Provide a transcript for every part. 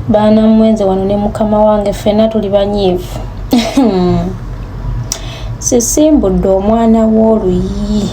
baana mmwe nze wano ne mukama wange ffenna tuli banyiivu sisimbudde omwana w'oluyi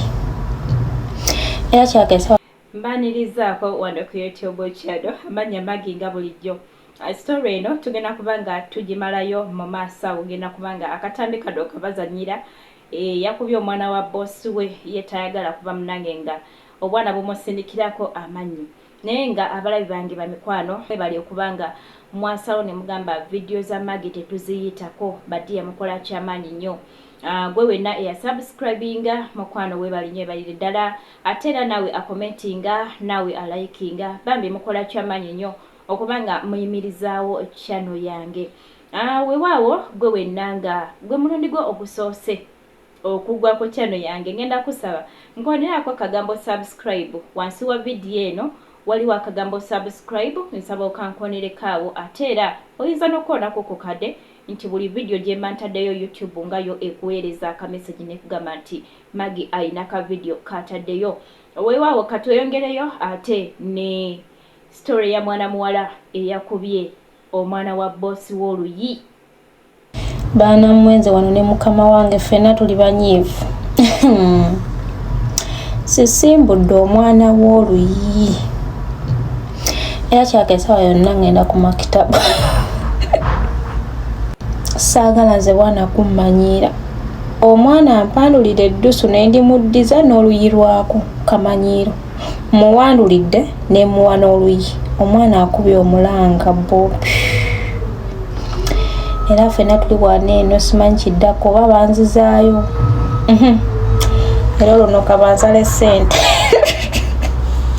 era kyakesa mbanirizaako wano ku youtube channel amannya magi nga bulijjo uh, story eno tugenda kuba nga tugimalayo mu maaso awo genda kuba nga akatambi kano kabazanyira eh, yakubye omwana wa boosi we ye tayagala kuba munange nga obwana bumusindikirako amannyo Naye nga abalabi bange bamikwano mwebale okuba nga mwasalawo nemugamba video za Maggie tetuziyitako ba dear mukola kyamaanyi nyo ah, gwe wenna eya subscribinga mukwano webale nyo ebalire dala ate era nawe akomentinga nawe alayikinga bambi mukola kyamaanyi nyo okuba nga muyimirizaawo channel yange ah, wewaawo gwe wenna nga gwe mulundi gwo ogusoose okugwa ku channel yange ngenda kusaba nkonelako akagambo subscribe wansi wa video eno waliwo akagambo subscribe nsaba okankoneleko awo ate era oyinza nokukonako ku kade nti buli video jemba ntadeyo YouTube nga yo ekuweleza aka message nekugamba nti Maggie ayina ka video katadeyo wewawo katweyongeleyo ate ne story ya mwana muwala eyakubye omwana wa boss woluyi. baana mmwe nze wano ne mukama wange ffenna tuli banyiivu sisimbudde omwana w'oluyi era kyaka esawa yonna ngenda ku makitabu saagala nze bwana kummanyiira omwana ampandulira eddusu ne ndimuddiza n'oluyi lwako kamanyiiro Mmuwandulidde ne mmuwa n'oluyi omwana akubye omulanga bobi era ffena tuli wana eno simanyi kiddako oba banzizaayo mhm. era oluno kabanzale ssente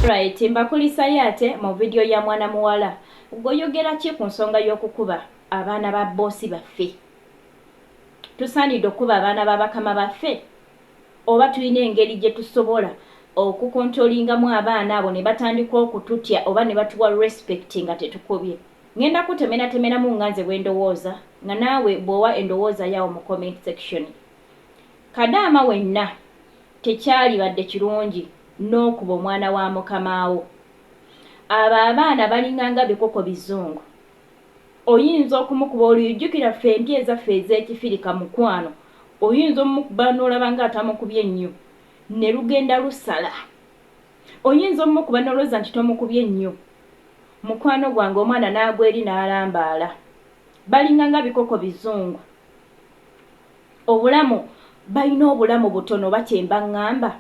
right mbakulisayo ate mu vidiyo ya mwana muwala gwoyogera ki ku nsonga y'okukuba abaana ba boosi baffe tusaanidde okukuba abaana ba bakama baffe Oba tulina engeri gye tusobola okukontolingamu abaana abo ne batandika okututya oba ne batuwa respect nga tetukubye? Ngenda kutemenatemeramu nga nze bwe ndowooza nga naawe bw'owa endowooza yo awo mu comment section. Kadaama wenna tekyalibadde kirungi n'okuba omwana wa mukamaawo. Abo abaana balinganga bikoko bizungu. Oyinza okumukuba oluyi jukira ffe empya ezaffe ezekifirika mukwano oyinza omukuba nolaba nga atamukubye nnyo nelugenda lusala oyinza omukuba nolowooza nti tomukubye nnyo mukwano gwange omwana nagwa eri nalambaala balinga nga bikoko bizungu obulamu balina obulamu butono oba kyemba ngamba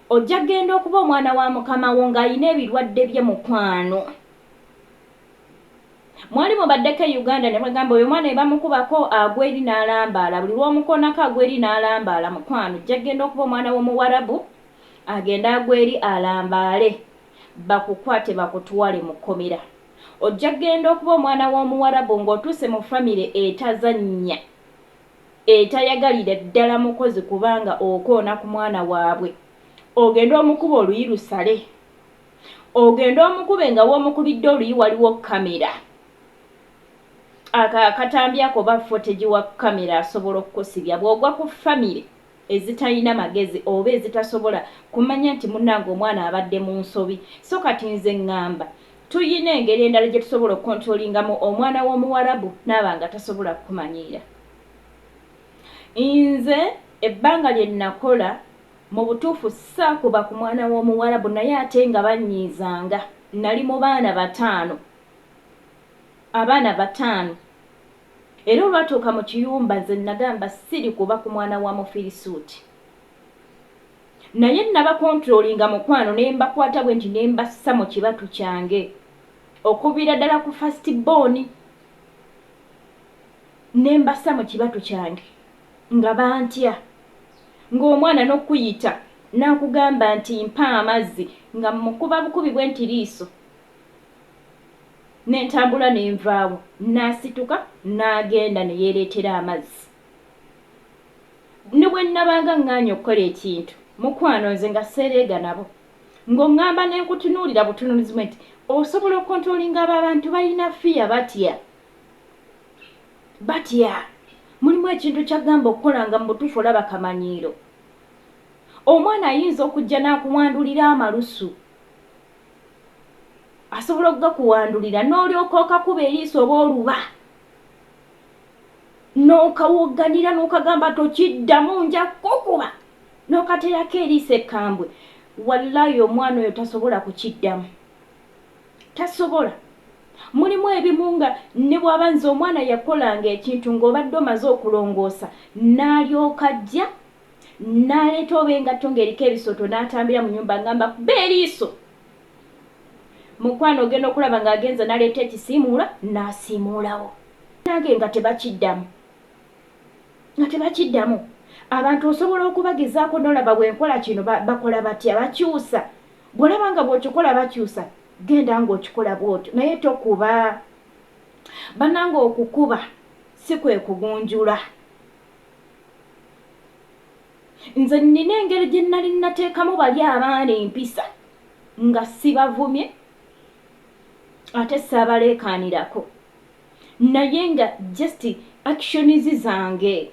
Ojja genda okuba omwana wa mukama wo nga ayina ebilwadde bye mukwano. Mwali mubaddeko e Uganda ne bagamba oyo omwana ebamukubako agwa eri nalambaala buli lwomukonako agwa eri nalambaala mukwano ojja genda okuba omwana wo muwarabu agende agwe eri alambaale bakukwate bakutwale mu komera. Ojja genda okuba omwana womuwarabu nga otuuse mu family etazanya. etayagalira ddala mukozi kuba nga okoona ku mwana wabwe ogende omukube oluyi lusale ogende omukube nga womukubidde oluyi waliwo kamera ako akatambi ako ba foteji wa kamera asobola okukusibya bwogwa ku famire ezitalina magezi oba ezitasobola kumanya nti munange omwana abadde munsobi so kati nze ngamba tuyina engeri endala jetusobola okontrolingamu omwana womuwarabu naaba nga tasobola kukumanyiira nze ebbanga lyenakola mubutuufu saakuba ku mwana womuwarabu naye ate nga banyiizanga nali mubaana bataano abaana bataano Era olwatuuka mu kiyumba, nze nnagamba, Ssiri kuba ku mwana wa Mufirisuuti. Naye nnabakontroolinga, mukwano, ne mbakwata bwe nti ne mbassa mu kibatu kyange, okuviira ddala ku fasitibooni, ne mbassa mu kibatu kyange, nga bantya, nga omwana n'okuyita, n'akugamba nti, Mpa amazzi, nga mmukuba bukubi bwe nti liiso. Ne ntambula ne nvaawo. N'asituka n'agenda ne yeereetera amazzi. Ne bwe nnabanga ŋŋaanyi okukola ekintu, mukwano, nze nga sseereega nabo. Ng'oŋŋamba ne nkutunuulira butunuulizi bwe nti, Osobola okontulolinga abo abantu balina fiya, batya. Batya. Mulimu ekintu ky'aggamba okukola nga mu butuufu olaba kamanyiiro. Omwana ayinza okujja n'akuwandulira amalusu. asobola okugakuwandulira n'olyoka okakuba eriiso oba oluba n'okawogganira n'okagamba tokiddamu nja kukuba n'okateerako eriiso ekkambwe wallayi omwana oyo tasobola kukiddamu tasobola mulimu ebimu nga ne bw'aba nze omwana yakolanga ekintu ng'obadde omaze okulongoosa n'alyoka ajja n'aleeta oba engatto ng'eriko ebisooto n'atambira mu nyumba ngamba kuba eriiso Mukwano ogenda okulaba nga agenze naleeta ekisiimuula nasiimuulawo nange nga tebakiddamu nga tebakiddamu abantu osobola okubagezaako nolaba bwenkola kino bakola batya bakyusa bwolaba nga bwokikola bakyusa genda nga okikola bwotyo naye tokuba bananga okukuba si kwekugunjula Nze nnina engeri gye nnali nnateekamu bali abaana empisa nga sibavumye ate ssaabaleekaanirako naye nga just actions zange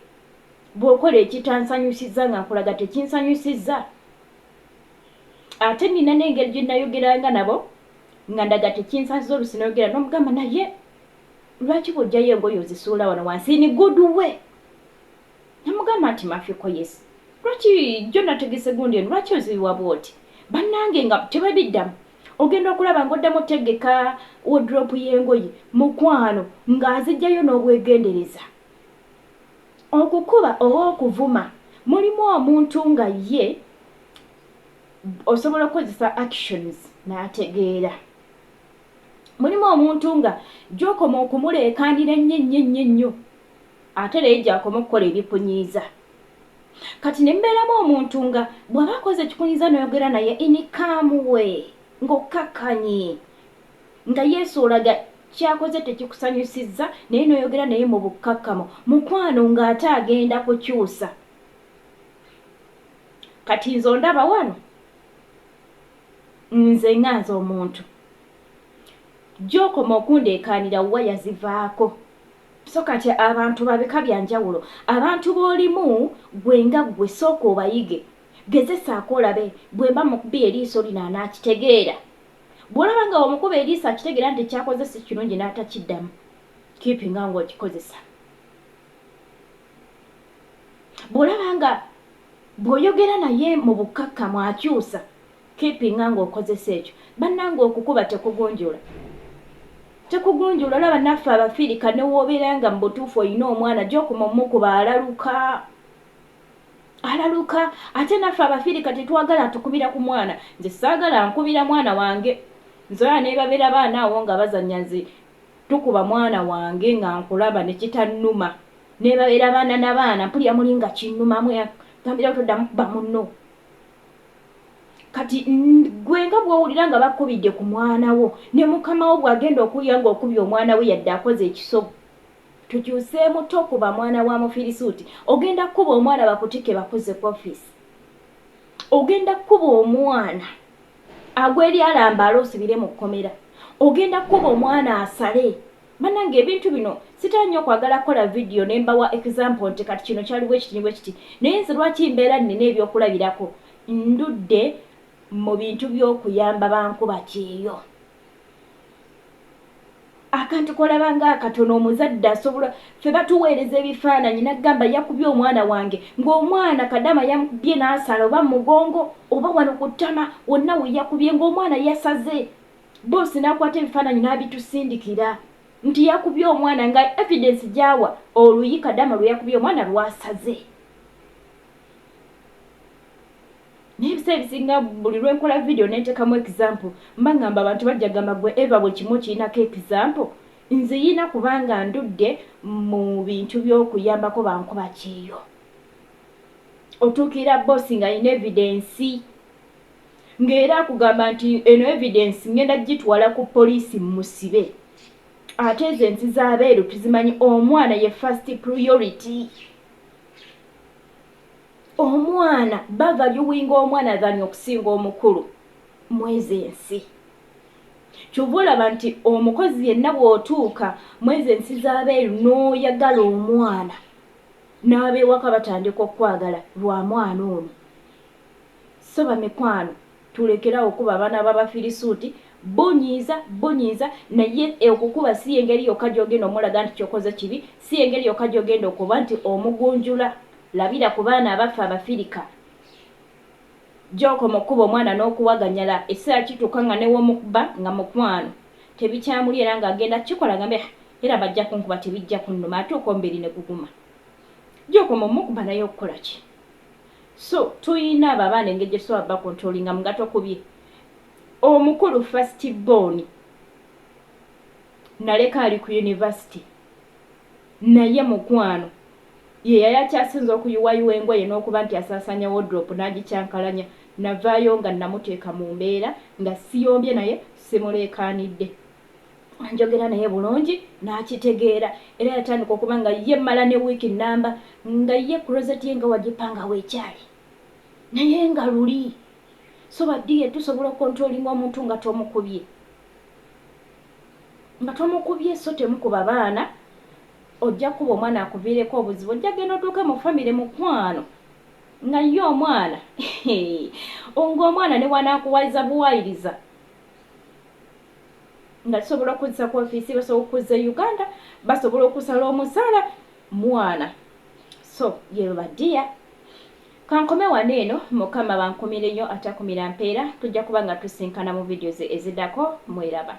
bw'okola ekitansanyusizza nga nkulaga tekinsanyusizza ate nnina n'engeri gye nnayogeranga nabo nga ndaga tekinsanyusizza olusi nayogera n'omugamba naye lwaki bw'ojjayo engoye ozisuula wano wansi in good way Namugamba nti Mafiko yes lwaki jjo nategese gundi eno lwaki ozibiwa bwoti banange nga tebabiddamu ogenda okulaba nga oddamu otegeka wodrop yengoye mukwano nga azijjayo nobwegendereza okukuba oba okuvuma mulimu omuntu nga ye osobola okukozesa actions nategeera mulimu omuntu nga jokoma okumuleekaanira ennyo ennyo ennyo ennyo Ate naye gy'akoma okukola ebikunyiiza. Kati ne mbeeramu omuntu nga bw'aba akoze ekikunyiiza n'oyogera naye in a calm way ng'okkakkanye nga Yesu olaga ky'akoze tekikusanyusizza naye n'oyogera naye mu bukkakkamu mukwano ng'ate agenda kukyusa. Kati nze ondaba wano nze nga nze omuntu gy'okoma okundeekaanira waya zivaako. So kati abantu ba bika bya njawulo. Abantu b'olimu ggwe nga ggwe sooka obayige. Gezesaako olabe bwe mba mukubye eriiso lino anaakitegeera. Bw'olaba nga bw'omukuba eriiso akitegeera nti ky'akoze si kirungi n'atakiddamu, kiipinga ng'okikozesa. Bw'olaba nga bw'oyogera naye mu bukkakkamu akyusa, Keepinga nga okozesa ekyo. Banange okukuba tekugunjula tekugunjula olaba naffe abafirika newobeera nga mubutuufu oyina omwana jokuma omukuba alaluka alaluka ate naffe abafirika tetwagala atukubira ku mwana nze saagala ankubira mwana wange nze olaba nebabera baana awo nga bazanya nze tukuba mwana wange nga nkulaba nekitannuma nebabera baana nabaana mpulira muli nga kinnumamu gambirawo toddamu kuba munno kati gwe nga bwowulira nga bakubidde ku mwana wo ne mukama wo bwagenda okuwulira nga okubye omwana we yadde akoze ekisobu tukyuseemu tokuba mwana wa mufirisuuti ogenda kukuba omwana bakutike bakuze ku office ogenda kukuba omwana agweryalamba ale osibire mu kkomera ogenda kukuba omwana asale Banange ebintu bino sitera nyo kwagala kola video nembawa example nti kati kino kyali bwekiti ne bwekiti naye nze lwaki mbeera nina ebyokulabirako ndudde mu bintu byokuyamba bankuba kyeyo akantu kolaba nga akatono omuzadde asobola fe batuweereza ebifaananyi nagamba yakubye omwana wange ng'omwana kadama yamukubye n'asala oba mugongo oba wano ku ttama wonna weyakubye ng'omwana yasaze Boss nakwata ebifananyi nabitusindikira nti yakubye omwana nga evidence gyawa oluyi kadama lweyakubye omwana lwasaze naye ebiseera ebisinga buli lwenkola video nentekamu example mba ngamba abantu bajja gamba gwe ever buli kimu okirinako example nziyina kubanga ndudde mu bintu byokuyambako bankuba kyeyo otuukirira boss nga ayina evidence nga era akugamba nti eno evidence ngenda jitwala ku police mmusibe ate ezo ensi zabeeru tuzimanyi omwana ye first priority omwana bavaluwinga omwana than okusinga omukulu mwezo ensi kyova olaba nti omukozi yenna bwotuuka mwezo ensi zabeeru noyagala omwana n'abewaka batandika okukwagala lwa mwana ono So bamikwano tulekere awo okukuba abaana babafirisuuti, bunyiiza bunyiiza naye okukuba si yengeri yokka gyogenda omulaga nti kyokoze kibi, si yengeri yokka gyogenda okuba nti omugunjula, labira ku baana abaffe abafirika gyokoma okukuba omwana nokuwaganyala ekiseera kituuka nga newomukba nga mukwano tebikyamuli era nga agenda kikola agambe ah era bajja kunkuba tebijja kunnuma ate okwomubiri neguguma gyokoma omukba naye okukolaki So tuyina abo abaana engeri gyetusobola ba controllingamu nga tokubye omukulu first born naleka ali ku university naye mukwano yeyali akyasinza okuyuwayuwa engoye n'okuba nti asasanya wodrop nagikyankalanya navaayo nga namuteeka mu mbeera nga siyombye naye simuleekaanidde. njogera naye bulungi n'akitegeera era yatandika okuba nga ye mmala ne wiiki nnamba nga ye kurozeti ye nga wagipanga weekyali naye nga luli so badiye tusobola okontrolinga omuntu nga tomukubye nga tomukubye so temukuba baana ojja kukuba omwana akuviireko obuzibu ojja genda otuuke mu famire mukwano nga ye omwana ngaomwana newanakuwayiza buwayiriza nga tusobola okuzza ku ofiisi basobola okuzza e uganda basobola okusala omusaala mwana so yebo badiya kankome wano eno mukama bankumire nnyo atakumira mpeera tujja kuba nga tusinkana mu vidios ezidako mweraba